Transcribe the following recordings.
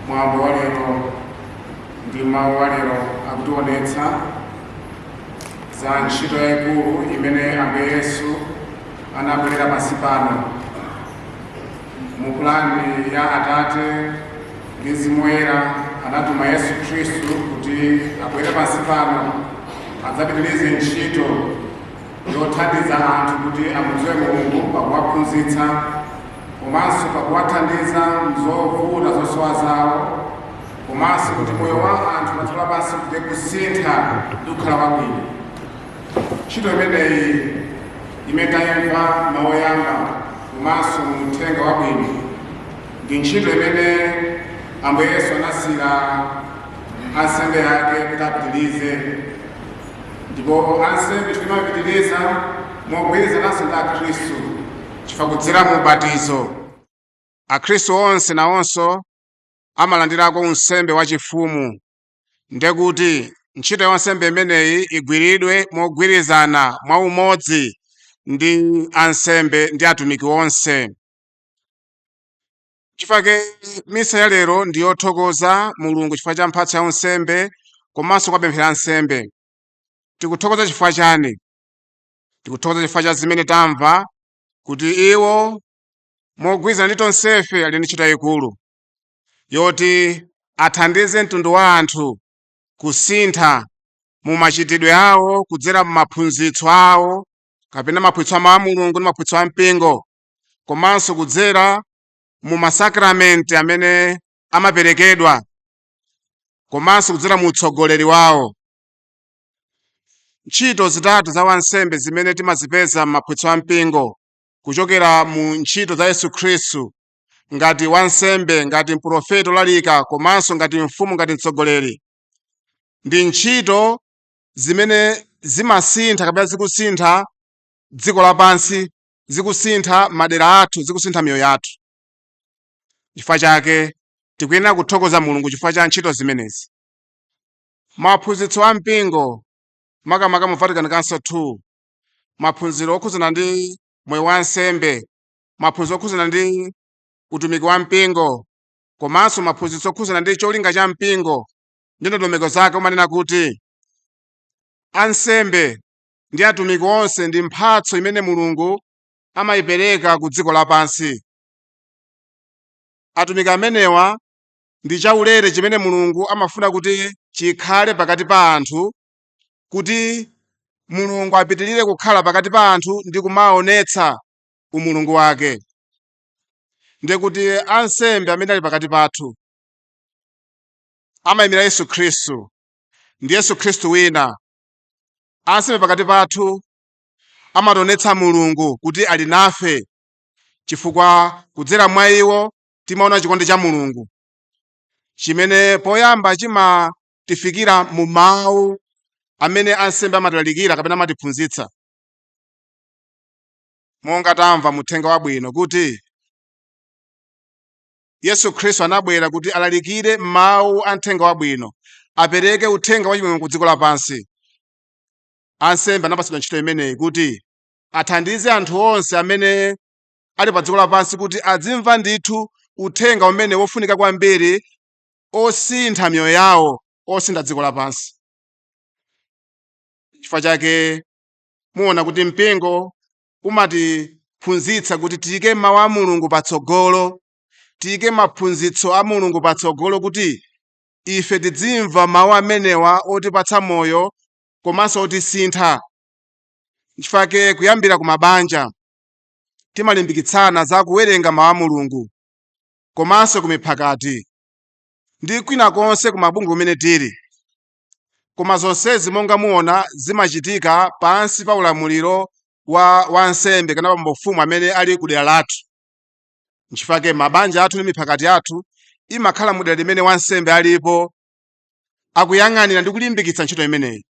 mwambo wa lero ndi mawu wa lero akutionetsa za ntchito yayikulu imene ambuye yesu anabwerera pansi pano Mu pulani ya Atate ndi Mzimu Woyera, anatuma Yesu Khristu kuti abwere pansi pano adzapitirize ntchito yothandiza anthu kuti amudziwe Mulungu pakuwaphunzitsa komanso pakuwathandiza m'zovuta zosowa zawo komanso kuti moyo wa anthu padziko lapansi ukhale kusintha ndi kukhala wabwino. Ntchito imeneyi imene tayimva m'mawu oyamba komanso mu uthenga wabwino ndi ntchito imene Ambuye Yesu anasiyira ansembe ake kuti apitirize ndipo ansembe timapitiriza mogwirizananso ndi Akhristu chifukwa kudzera mu ubatizo Akhristu onse nawonso amalandirako unsembe wachifumu ndekuti ntchito ya unsembe imeneyi igwiridwe mogwirizana mwa umodzi ndi ansembe ndi atumiki onse chifukwa chake misa ya lero ndi yothokoza mulungu chifukwa cha mphatso ya unsembe komanso kuwapempherera ansembe tikuthokoza chifukwa chani tikuthokoza chifukwa cha zimene tamva kuti iwo mogwirizana ndi tonsefe ali ndi ntchito yayikulu yoti athandize mtundu wa anthu kusintha mu machitidwe awo kudzera mu maphunzitso awo kapena maphunzitso a mawu a Mulungu ndi maphunzitso a mpingo komanso kudzera mu masakramenti amene amaperekedwa komanso kudzera mu utsogoleri wawo ntchito zitatu za wansembe zimene timazipeza m'maphunzitso a mpingo kuchokera mu ntchito za Yesu Khristu ngati wansembe ngati mprofeti olalika komanso ngati mfumu ngati mtsogoleri ndi ntchito zimene zimasintha kapena zikusintha dziko lapansi zikusintha madera athu zikusintha miyoyo yathu chifukwa chake tikuyenera kuthokoza mulungu chifukwa cha ntchito zimenezi maphunzitso a mpingo makamaka mu vatican council 2 maphunziro okhudzana ndi moyo wa ansembe maphunzitso okhudzana ndi utumiki wa mpingo komanso maphunzitso okhudzana ndi cholinga cha mpingo ndi ndondomeko zake umanena kuti ansembe ndi atumiki onse ndi mphatso imene mulungu amayipereka ku dziko lapansi atumiki amenewa ndi chaulere chimene mulungu amafuna kuti chikhale pakati pa anthu kuti mulungu apitirire kukhala pakati pa anthu ndi kumaonetsa umulungu wake ndiye kuti ansembe amene ali pakati pathu amayimira yesu khristu ndi yesu khristu wina ansembe pakati pathu amationetsa mulungu kuti ali nafe chifukwa kudzera mwa iwo timaona chikondi cha mulungu chimene poyamba chimatifikira mu mawu amene ansembe amatilalikira kapena amatiphunzitsa monga tamva muthenga wabwino kuti yesu khristu anabwera kuti alalikire mawu a mthenga wabwino apereke uthenga wachimwemwe ku dziko lapansi ansembe anapatsidwa ntchito imeneyi kuti athandize anthu onse amene ali pa dziko lapansi kuti adzimva ndithu uthenga umene wofunika kwambiri osintha miyoyo yawo osintha dziko lapansi chifukwa chake muona kuti mpingo umatiphunzitsa kuti tiyike mawu a mulungu patsogolo tiyike maphunzitso a mulungu patsogolo kuti ife tidzimva mawu amenewa otipatsa moyo komanso otisintha nchifake kuyambira ku mabanja timalimbikitsana za kuwerenga mawu a mulungu komanso ku miphakati ndi kwina konse ku mabungwe kumene tili Koma zonsezi monga muona zimachitika pansi pa ulamuliro wa wansembe kana bambo mfumu amene ali ku dera lathu. Nchifake mabanja athu ndi miphakati yathu imakhala mu dera limene wansembe alipo akuyang'anira ndi kulimbikitsa ntchito imeneyi.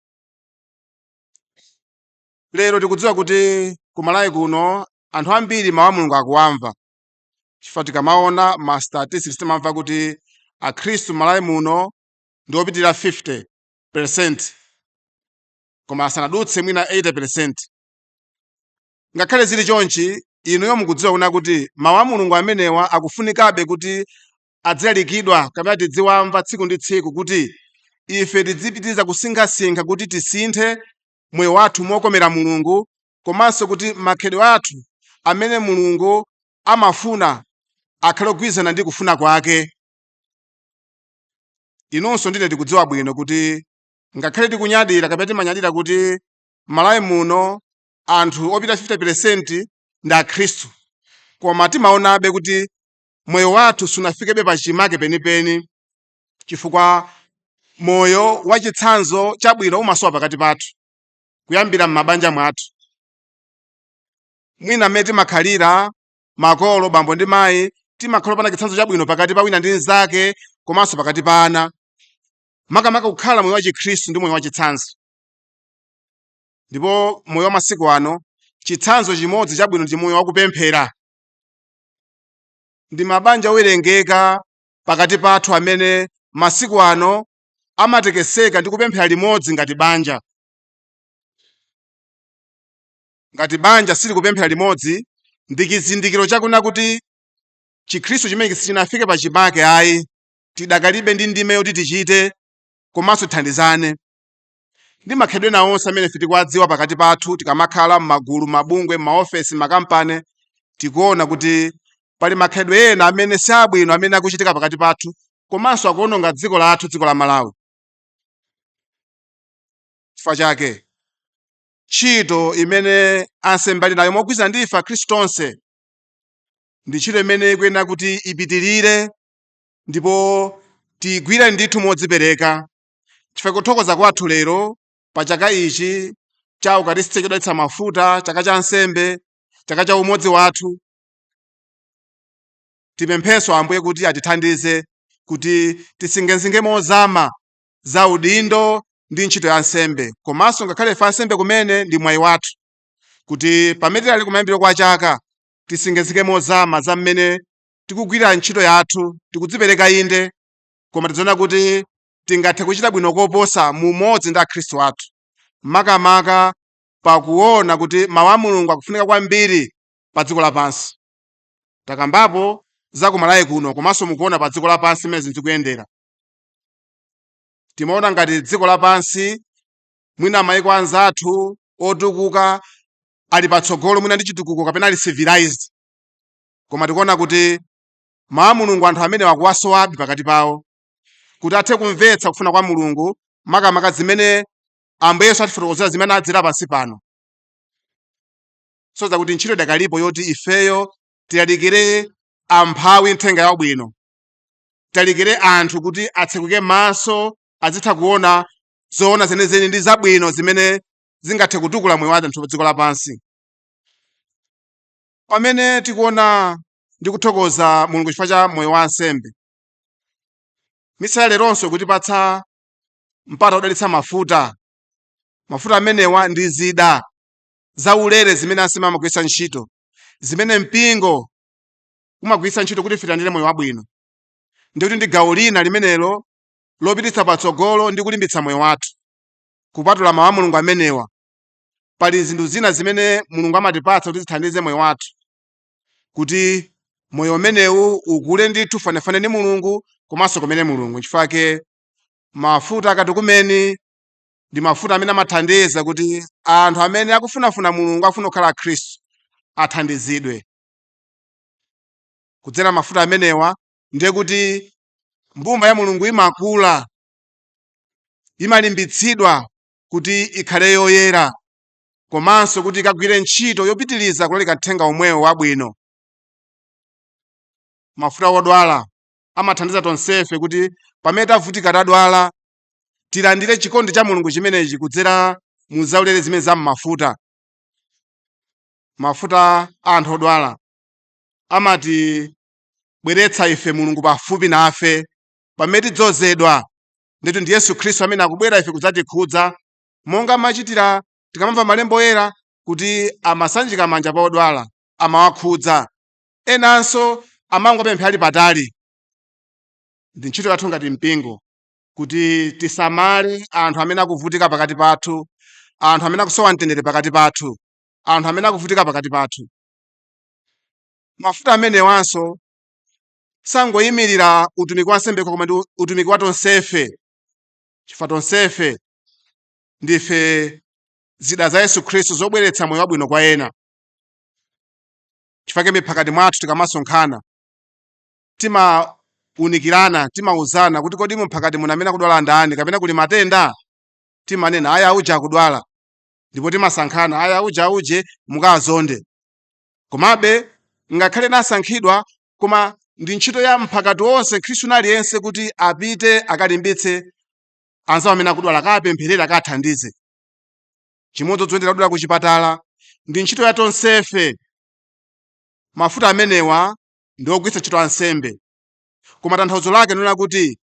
Lero tikudziwa kuti ku Malawi kuno anthu ambiri mawu a Mulungu akuwamva chifukwa tikamaona ma statistics timamva kuti Akhristu Malawi muno ndi opitirira 50 percent koma asanadutse mwina 80 percent ngakhale zili chonchi inuyo mukudziwa kuna kuti mawu a mulungu amenewa akufunikabe kuti adzilalikidwa kapena tidziwamva tsiku ndi tsiku kuti ife tidzipitiriza kusinkhasinkha kuti tisinthe moyo wathu mokomera mulungu komanso kuti makhalidwe athu amene mulungu amafuna akhale ogwirizana ndi kufuna kwake inunso ndine tikudziwa bwino kuti ngakhale tikunyadira kapena timanyadira kuti malawi muno anthu opitirira 50 peresenti ndi akhristu koma timaonabe kuti moyo wathu sunafikebe pa chimake penipeni chifukwa moyo wa chitsanzo chabwino umasowa pakati pathu kuyambira m'mabanja mwathu mwina mmene timakhalira Makolo, bambo ndi mayi, timakhala opanda chitsanzo chabwino pakati pa wina ndi mnzake komanso pakati pa ana. Makamaka kukhala moyo wachikhristu ndi moyo wachitsanzo. Ndipo moyo wa masiku ano, chitsanzo chimodzi chabwino ndi moyo wakupemphera. Ndi mabanja owerengeka pakati pathu amene masiku ano amatekeseka ndi kupemphera limodzi ngati banja. Ngati banja silikupemphera limodzi, ndi chizindikiro chakunena kuti Chikhristu chimenechi sichinafike pachimake ayi, tidakalibe ndi ndime yoti tichite komanso tithandizane ndi makhalidwe ena onse amene ife tikuwadziwa pakati pathu tikamakhala m'magulu, mabungwe, m'maofesi, makampani, tikuona kuti pali makhalidwe ena amene si abwino amene akuchitika pakati pathu komanso akuwononga dziko lathu, dziko la Malawi. Chifukwa chake, Ntchito imene ansembe ali nayo mogwirizana ndi ife Akhristu tonse ndi ntchito imene ikuyenera kuti ipitirire ndipo tiigwire ndithu modzipereka chifukwa kuthokoza kwathu lero pa chaka ichi cha Ukaristiya chodalitsa mafuta, chaka cha ansembe, chaka cha umodzi wathu, tipemphenso Ambuye kuti atithandize kuti tisinkhesinkhe mozama za udindo ndi ntchito ya ansembe komanso ngakhale ife ansembe kumene ndi mwayi wathu kuti pamene tili kumayambiro kwa chaka tisinkhesinkhe mozama za mmene tikugwirira ntchito yathu tikudzipereka inde koma tidziona kuti tingathe kuchita bwino koposa mu umodzi ndi akhristu athu makamaka pakuona kuti mawu a mulungu akufunika kwambiri pa dziko lapansi takambapo za ku malawi kuno komanso mukuona pa dziko lapansi mmene zinthu zikuyendera timaona ngati dziko lapansi mwina maiko anzathu otukuka ali patsogolo mwina ndi chitukuko kapena ali civilized koma tikuona kuti mawu a mulungu anthu amenewa akuwasowabe pakati pawo kuti athe kumvetsa kufuna kwa mulungu makamaka zimene ambuye yesu adatifotokozera zimene adadzera pansi pano tsono kuti ntchito idakalipo yoti ifeyo tilalikire amphawi nthenga yabwino tilalikire anthu kuti atsekuke maso azitha kuona zoona zenizeni ndi zabwino zimene zingathe kutukula moyo wa anthu pa dziko lapansi pamene tikuona ndi kuthokoza mulungu chifukwa cha moyo wa ansembe misa ya leronso ikutipatsa mpata wodalitsa mafuta mafuta amenewa ndi zida zaulere zimene ansembe amagwiritsa ntchito zimene mpingo umagwiritsa ntchito kuti ife tilandire moyo wabwino ndi kuti ndi gawo lina limenelo lopititsa patsogolo ndi kulimbitsa moyo wathu kupatula mawu a mulungu amenewa pali zinthu zina zimene mulungu amatipatsa kuti zithandize moyo wathu kuti moyo umenewu ukule ndithu fanefane ndi mulungu komanso tikumane ndi mulungu chifukwa chake mafuta a akatekumeni ndi mafuta amene amathandiza kuti anthu amene akufunafuna mulungu akufuna kukhala akhristu athandizidwe kudzera mafuta amenewa ndiye kuti mbumba ya mulungu imakula imalimbitsidwa kuti ikhale yoyera komanso kuti ikagwire ntchito yopitiriza kulalika mthenga omwewo wabwino mafuta odwala amathandiza tonsefe kuti pamene tavutika tadwala tilandire chikondi cha mulungu chimenechi kudzera mu zaulere zimene za m'mafuta mafuta a anthu odwala amatibweretsa ife mulungu pafupi nafe pamene tidzozedwa ndithu ndi yesu khristu amene akubwera ife kudzatikhudza monga amachitira tikamamva m'malembo oyera kuti amasanjika manja pa odwala amawakhudza enanso amangowapempherera ali patali ndi ntchito yathu ngati mpingo kuti tisamale anthu amene akuvutika pakati pathu anthu amene akusowa mtendere pakati pathu anthu amene akuvutika pakati pathu. Mafuta amenewanso sakungoyimirira utumiki wa ansembe okha koma ndi utumiki wa tonsefe, chifukwa tonsefe ndife zida za Yesu Khristu zobweretsa moyo wabwino kwa ena. Chifukwa chake m'miphakati mwathu tikamasonkhana timaunikirana, timauzana kuti kodi mu mphakati muno amene akudwala ndani kapena kuli matenda, timanena ayi auje akudwala ndipo timasankhana ayi auje auje mukazonde komabe ngakhale ena asankhidwa koma ndi ntchito ya mphakati wonse mkhristu wina aliyense kuti apite akalimbitse anzawo amene akudwala akawapempherere akawathandize chimodzimodzi oyendera odwala ku chipatala ndi ntchito ya tonsefe mafuta amenewa ndi ogwiritsa ntchito ansembe koma tanthauzo lake ndikunena kuti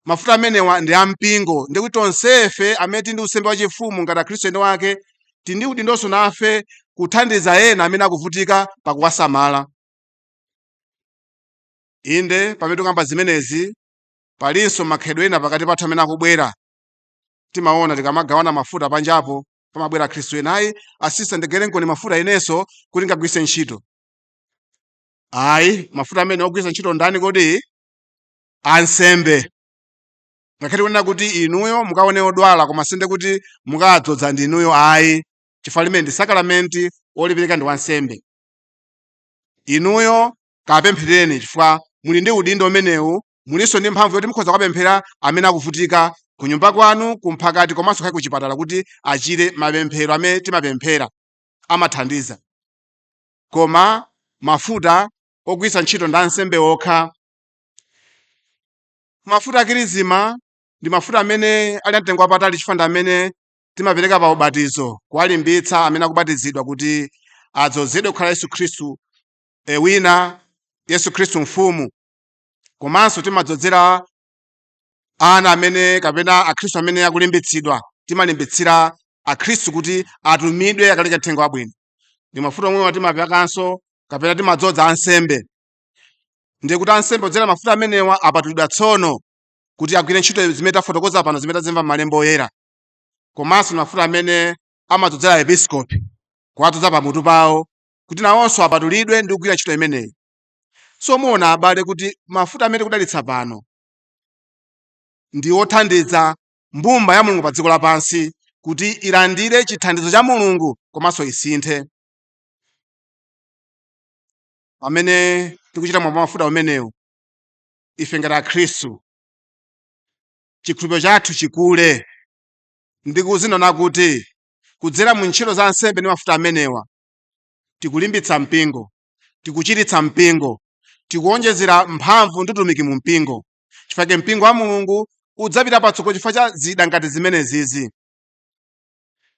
mafuta amenewa ndi ampingo ndikuti tonsefe amene tili ndi unsembe wachifumu ngati akhristu eni wake tili ndi udindonso nafe kuthandiza ena amene akuvutika pakuwasamala inde pamene tikukamba zimenezi palinso makhalidwe ena pakati pathu amene akubwera timaona tikamagawana mafuta panjapo pamabwera akhristu ena ayi asisita ndigaireniko mafuta inenso kuti ndikagwiritse ntchito ayi mafuta amenewa ogwiritsa ntchito ndani kodi ansembe ngakhale kunena kuti inuyo mukaone odwala koma sindiye kuti mukadzoza ndi inuyo ayi chifukwa limeneli ndi sakaramenti olipereka ndi wansembe inuyo kapemphereni chifukwa muli ndi udindo umenewu mulinso ndi mphamvu yoti mukhoza kuwapempherera amene akuvutika ku nyumba kwanu kumphakati komanso kaya kuchipatala kuti achire mapemphero amene timapemphera amathandiza koma mafuta ogwiritsa ntchito ndi ansembe okha mafuta akirizima ndi mafuta amene ali amtengo wapatali chifukwa ndi amene timapereka pa ubatizo kuwalimbitsa amene akubatizidwa kuti adzozedwe kukhala yesu khristu e, wina yesu khristu mfumu komanso timadzozera ana amene kapena akhristu amene akulimbitsidwa timalimbitsira akhristu kuti atumidwe akalalike mthenga wabwino ndi mafuta omwewa timaperekanso kapena timadzoza ansembe ndiye kuti ansembe odzera mafuta amenewa apatulidwa tsono kuti agwire ntchito zimene tafotokoza pano zimene tazimva m'malemba oyera komanso ndi mafuta amene amadzozera episkopi kuwadzoza pamutu pawo kuti nawonso apatulidwe ndi kugwira ntchito imeneyi so muona abale kuti mafuta amene tikudalitsa pano ndi othandiza mbumba ya mulungu pa dziko lapansi kuti ilandire chithandizo cha mulungu komanso isinthe pamene tikuchita mwambo wa mafuta umenewu ife ngati akhristu chikhulupiriro chathu chikule ndi kuzionanso kuti kudzera mu ntchito za ansembe ndi mafuta amenewa tikulimbitsa mpingo tikuchiritsa mpingo tikuwonjezera mphamvu ndi utumiki mu mpingo chifukwa mpingo wa mulungu udzapita patsogolo chifukwa cha zida ngati zimenezizi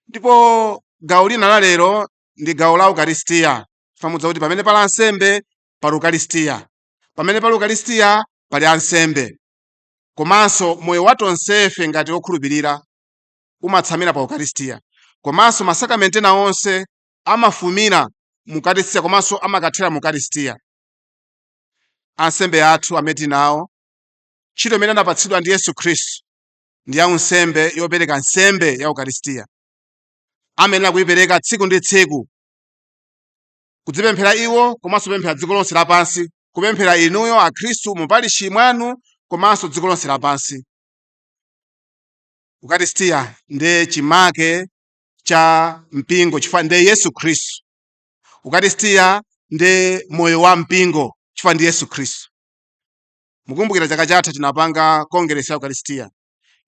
ndipo gawo lina la lero ndi gawo la ukaristiya chifukwa mudziwa kuti pamene pali ansembe pali ukaristiya pamene pali ukaristiya pali ansembe komanso moyo wa tonsefe ngati okhulupirira umatsamira pa ukaristiya komanso masakramenti ena onse amafumira mu ukaristiya komanso amakathera mu ukaristiya ansembe athu amene tili nawo ntchito imene anapatsidwa ndi yesu khristu ndi ya unsembe yopereka nsembe ya ukaristiya amayenera kuyipereka tsiku ndi tsiku kudzipemphera iwo komanso kupemphera dziko lonse lapansi kupemphera inuyo akhristu mu parishi mwanu komanso dziko lonse lapansi ukaristiya ndiye chimake cha mpingo chifukwa ndiye yesu khristu ukaristiya ndiye moyo wa mpingo chifukwa ndi yesu khristu mukumbukira chaka chatha tinapanga kongeresi ya ukaristiya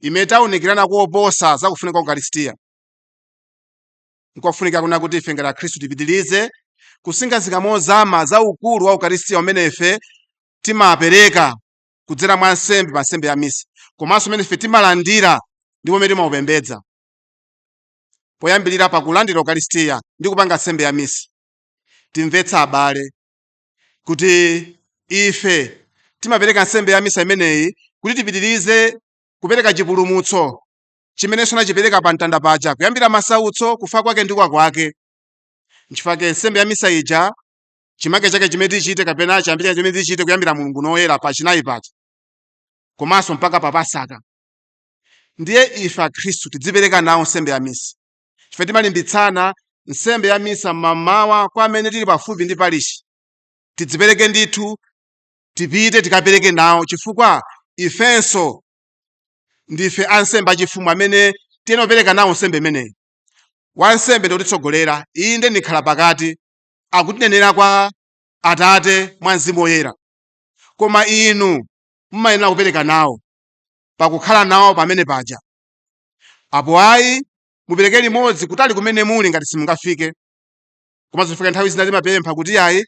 imene tinaunikirana koposa za kufunika kwa ukaristiya Nkofunika kunena kuti ife ngati Akhristu tipitirize kusinkhasinkha mozama za ukulu wa Ukaristiya umene ife timapereka kudzera mwa nsembe pa nsembe ya misa komanso umene ife timalandira ndipo umene timaupembedza poyambirira pa kulandira Ukaristiya ndi kupanga nsembe ya misa. Timvetse abale kuti ife timapereka nsembe ya misa imeneyi kuti tipitirize kupereka chipulumutso chimene Yesu anachipereka pa mtanda paja kuyambira masautso kufa kwake ndi kuuka kwake nchifukwa chake nsembe ya misa ija chimake chake chimene tichite kapena chiyambi chake chimene tichite kuyambira mulungu loyera pa chinayi paja komanso mpaka pa pasaka ndiye ife akhristu tidzipereke nawo nsembe ya misa chifukwa timalimbitsana nsembe ya misa mmamawa kwa amene tili pafupi ndi parishi tidzipereke ndithu tipite tikapereke nawo chifukwa ifenso ndife ansembe achifumu amene tiyenera kupereka nawo nsembe imeneyi wansembe ndi mtsogoleri iye ndiye mkhalapakati akutinenera kwa atate mwa mzimu woyera koma inu mumayenera kupereka nawo pakukhala nawo pamenepaja apo ayi mupereke limodzi kutali kumene muli ngati simungafike komanso chifukwa nthawi zina timapempha kuti ayi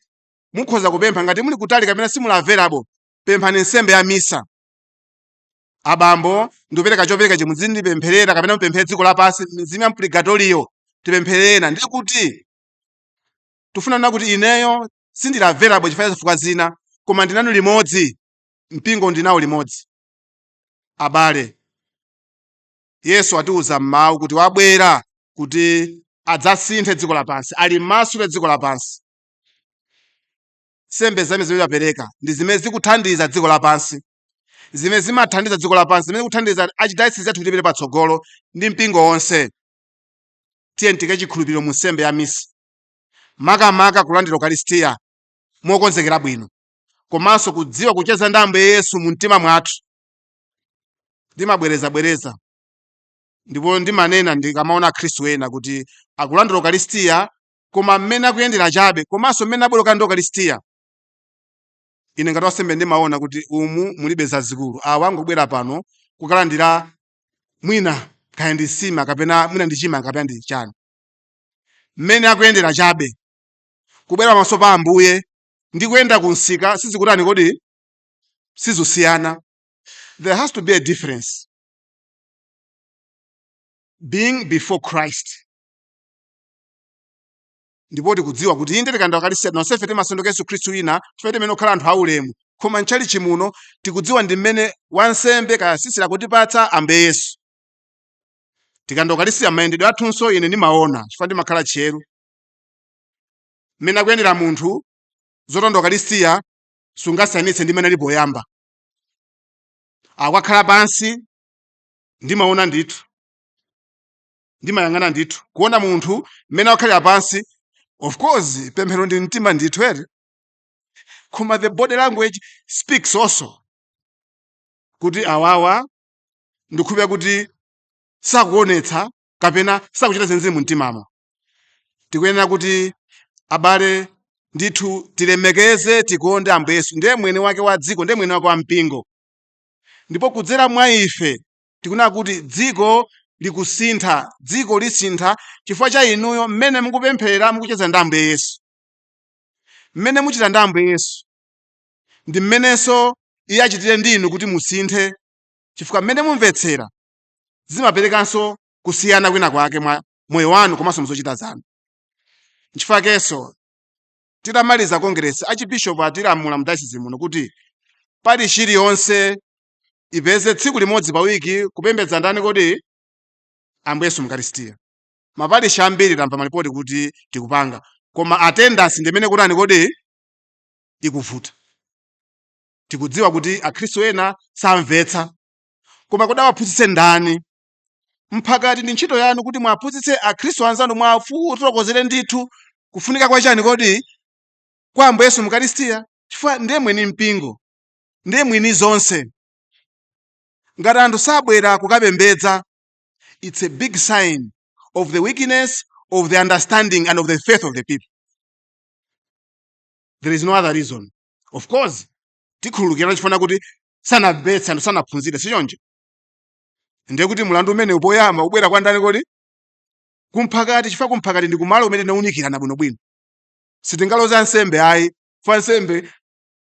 mukhoza kupempha ngati muli kutali kapena simuli available pemphani nsembe ya misa abambo ndikupereka chopereka chimene muzindipempherera kapena mupempherere dziko lapansi mizimu ya mpurigatoriyo tipemphererana ndiye kuti tifuna kunena kuti ineyo sindili available chifukwa cha zifukwa zina koma ndili nanu limodzi mpingo ndili nawo limodzi abale yesu atiwuza m'mawu kuti wabwera kuti adzasinthe dziko lapansi alimasule dziko lapansi nsembe zimene timapereka ndi zimene zikuthandiza dziko lapansi zimene zimathandiza dziko lapansi zimene zikuthandiza archdiocese yathu kuti tipite patsogolo ndi mpingo wonse tiyeni tiike chikhulupiriro mu nsembe ya misa makamaka kulandira ukaristiya mokonzekera bwino komanso kudziwa kucheza ndi ambuye yesu mu mtima mwathu ndimabwerezabwereza ndipo ndimanena ndikamaona akhristu ena kuti akulandira ukaristiya koma mmene akuyendera chabe komanso mmene abwererako ndi ukaristiya ine ngati wansembe ndimaona kuti umu mulibe zazikulu awa angobwera pano kukalandira mwina kaya ndi nsima kapena mwina ndi chima kapena ndi chani mmene akuyendera chabe kubwera pamaso pa ambuye ndi kuyenda ku msika sizikutani kodi sizusiyana there has to be a difference being before christ Ndipo tikudziwa kuti inde tikalandira ukalistia tonsefe timasanduka Yesu Khristu wina chifukwa timayenera kukhala anthu aulemu koma mchalichi muno tikudziwa ndi mmene wansembe kaya sisita akutipatsa ambuye Yesu tikalandira ukalistia mayendedwe athunso ine ndimaona chifukwa ndimakhala tcheru mmene akuyendera munthu zotonda ukalistia sungasiyanitse ndi mmene ali poyamba akukakhala pansi ndimaona ndithu ndimayang'ana ndithu kuona munthu mmene akukhalira pansi of course pemphero ndi mtima ndithu ere koma the body language speaks also kuti awawa ndikhulupira kuti sakuonetsa kapena sakuchita zenizeni mu mtimamo tikuyenera kuti abale ndithu tilemekeze tikonde ambuye yesu ndiye mwene wake wa dziko ndiye mwene wake wa mpingo ndipo kudzera mwa ife tikunena kuti dziko likusintha dziko lisintha chifukwa cha inuyo mmene mukupemphera mukucheza ndi ambuye yesu mmene muchita ndi ambuye yesu ndi mmenenso iye achitire ndi inu kuti musinthe chifukwa mmene mumvetsera zimaperekanso kusiyana kwina kwake mwa moyo wanu komanso muzochita zanu nchifukwa chakenso titamaliza kongeresi achibishopu atilamula mudayosizi muno kuti parishi iliyonse ipeze tsiku limodzi pa wiki kupembedza ndani kodi ambuye yesu mukaristiya maparishi ambiri tamva malipoti kuti tikupanga koma attendance ndimene ikutani kodi ikuvuta tikudziwa kuti akhristu ena samvetsa koma kodi awaphunzitse ndani mphakati ndi ntchito yanu kuti mwaphunzitse akhristu anzanu mwafotokozere ndithu kufunika kwa chani kodi kwa ambuye yesu mukaristiya chifukwa ndiye mwini mpingo ndiye mwini zonse. Ngati anthu sabwera kukapembedza, its a big sign of the weakness of the understanding and of the faith of the people. There is no other reason. Of course, tikhululukirana chifukwa kuti sanamvetse anthu sanaphunzire sichoncho. Ndiye kuti mlandu umenewu poyamba ubwera kwa ndani kodi? Kumphakati chifukwa kumphakati ndi kumalo kumene timaunikirana bwinobwino. Sitingaloze ansembe ayi, chifukwa ansembe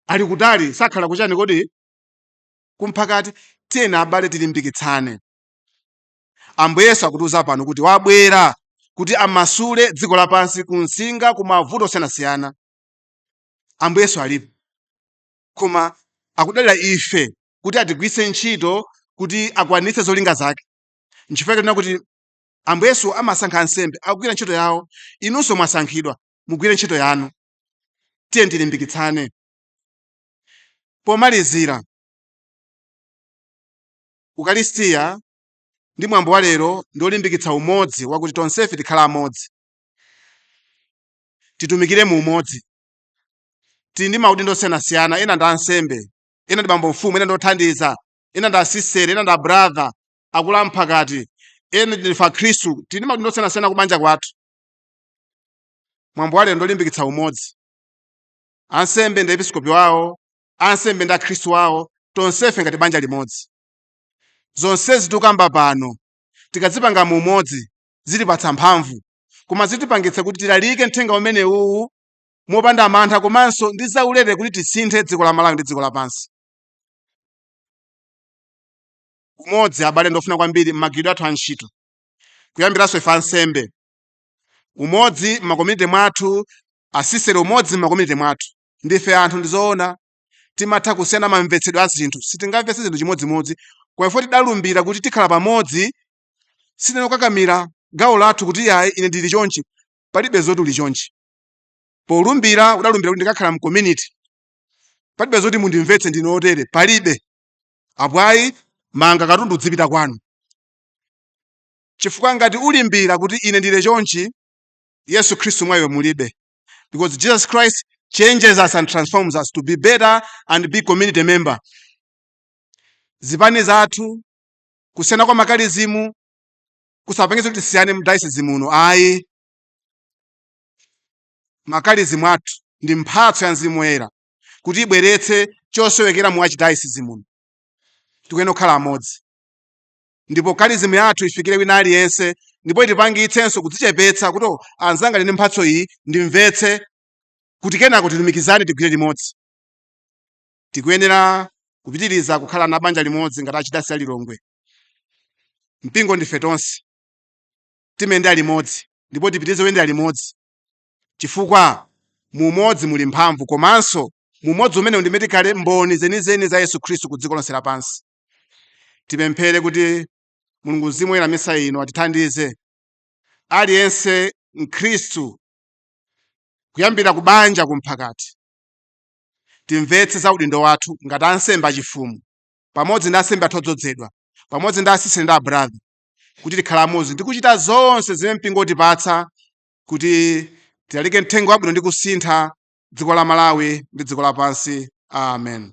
ali kutali sakhala kuchani kodi kumphakati tiyeni abale tilimbikitsane ambuye yesu akutiuza pano kuti wabwera kuti amasule dziko lapansi kunsinga kumavuto osiyanasiyana ambuye yesu alipo koma akudalira ife kuti atigwiritse ntchito kuti akwanitse zolinga zake nchifukwa chake tinena kuti ambuye yesu amasankha ansembe akugwira ntchito yawo inunso mwasankhidwa mugwire ntchito yanu tiye tilimbikitsane pomalizira ukalistiya ndi mwambo wa lero ndi olimbikitsa umodzi wakuti tonsefe tikhala amodzi titumikire mu umodzi tili ndi maudindo osiyanasiyana ena ndi ansembe ena ndi bambo mfumu ena ndi othandiza ena ndi asistere ena ndi abrother akulu amphakati ena ndife akhristu tili ndi maudindo osiyanasiyana kubanja kwathu mwambo wa lero ndi olimbikitsa umodzi ansembe ndi episkopi wawo ansembe ndi akhristu wawo tonsefe ngati banja limodzi zonsezi tikukamba pano tikazipanga mu umodzi zitipatsa mphamvu koma zitipangitsa kuti tilalike mthenga umene uwu mopanda mantha komanso ndi zaulere kuti tisinthe dziko la malawi ndi dziko lapansi umodzi abale ndofunika kwambiri m'magwiridwe athu a ntchito kuyambiranso ife ansembe umodzi m'macommunity mwathu asistere umodzi m'macommunity mwathu ndife anthu ndizoona timatha kusiyana mamvetsedwe a zinthu sitingamvetse zinthu chimodzimodzi koma ife tidalumbira kuti tikhala pamodzi sitinokakamira gawo lathu kuti yayi ine ndili chonchi palibe zoti uli chonchi polumbira udalumbira kuti ndikakhala mcommunity palibe zoti mundimvetse ndine otere palibe apo ayi manga katundu udzipita kwanu chifukwa ngati ulimbira kuti ine ndili chonchi yesu khristu mwa iwe mulibe because jesus christ changes us and transforms us to be better and be community member zipani zathu kusiyana kwa makalizimu kusapangitse kuti tisiyane mu diocese muno ayi makalizimu athu ndi mphatso ya mzimu woyera kuti ibweretse chosowekera mu archdiocese muno tikuyenera kukhala amodzi ndipo kalizimu yathu ifikire wina aliyense ndipo itipangitsenso kudzichepetsa kuti oh anzanga ali ndi mphatso iyi ndimvetse kuti kenako tilumikizane tigwire limodzi tikuyenera kupitiriza kukhala banja limodzi ngati archdiocese ya lilongwe mpingo ndife tonse timayenda limodzi ndipo tipitirize kuyenda limodzi chifukwa mu umodzi muli mphamvu komanso mu umodzi umene ndimene tikhale mboni zenizeni za yesu khristu ku dziko lonse lapansi tipemphere kuti mulungu mzimu woyera m'misa ino atithandize aliyense mkhristu kuyambira ku banja kumphakati timvetse za udindo wathu ngati ansembe achifumu pamodzi ndi ansembe athu odzozedwa pamodzi ndi asisiteri ndi abrother kuti tikhale amodzi ndi kuchita zonse zimene mpingo utipatsa kuti tilalike mthenga wabwino ndi kusintha dziko la malawi ndi dziko lapansi amen